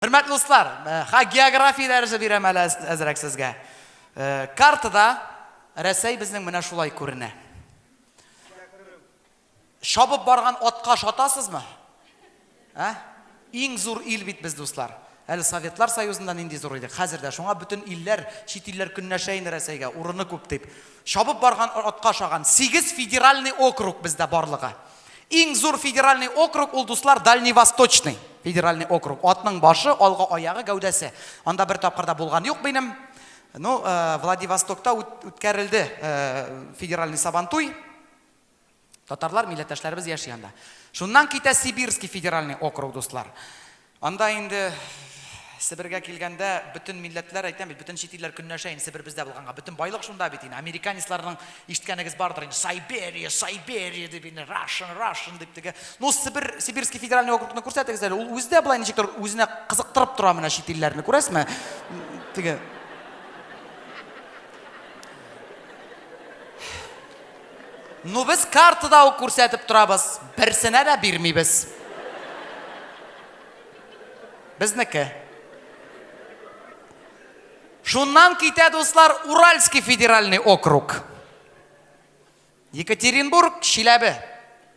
Хөрмәтле дуслар, э, ха география дәресе бирәм әле әзрәк сезгә. Э, картада Рәсәй безнең менә шулай күренә. Шабып барган атка шатасызмы? Ә? Иң зур ил бит без дуслар. Әле Советлар Союзында нинди зур идек. Хәзер дә шуңа бөтен илләр, чит илләр көннәшә инде Рәсәйгә, урыны күп дип. Шабып барган атка шаган 8 федеральный округ бездә барлыгы. Иң зур федеральный округ ул, дуслар, Дальневосточный федеральный округ. Атның башы, алгы аягы, гәүдәсе. Анда бер тапкыр да булган юк минем. Ну, э, Владивостокта үткәрелде э, федеральный сабантуй. Татарлар, милләттәшләребез яши анда. Шуннан китә Сибирский федеральный округ, дуслар. Анда инде Себергә килгәндә бөтен милләтләр, әйтәм бит, бөтен чит илләр көнләшә инде Себер бездә булганга. Бөтен байлык шунда бит инде. Американецларның ишеткәнегез бардыр инде. Сайберия, Сайберия дип инде, Russian, Russian дип теге. Ну, Себер, Сибирский федеральный округны күрсәтегез әле. Ул үзе дә болай ничектер үзенә кызыктырып тора менә чит илләрне, күрәсезме? Теге Ну без картада ук күрсәтеп торабыз, берсенә дә бирмибез. Безнеке. Шуннан китә, дуслар, Уральский федеральный округ. Екатеринбург, Чиләбе.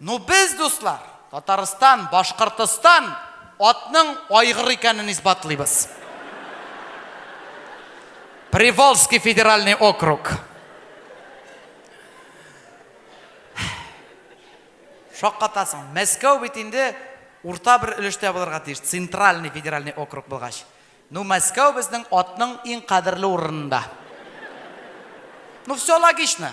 Ну без, дуслар, Татарстан, Башкортостан атның айгыр икәнен исбатлыйбыз. Приволжский федеральный округ. Шаккатасың. Мәскәү бит инде урта бер өлештә булырга тиеш, центральный федеральный округ булгач. Ну, Мәскәү безнең атның иң кадерле урынында. Ну, все логично.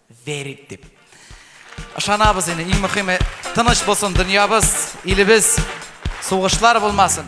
Верит дип. Ышанабыз инде, иң мөхиме, тыныч булсын дөньябыз, илебез, сугышлар булмасын.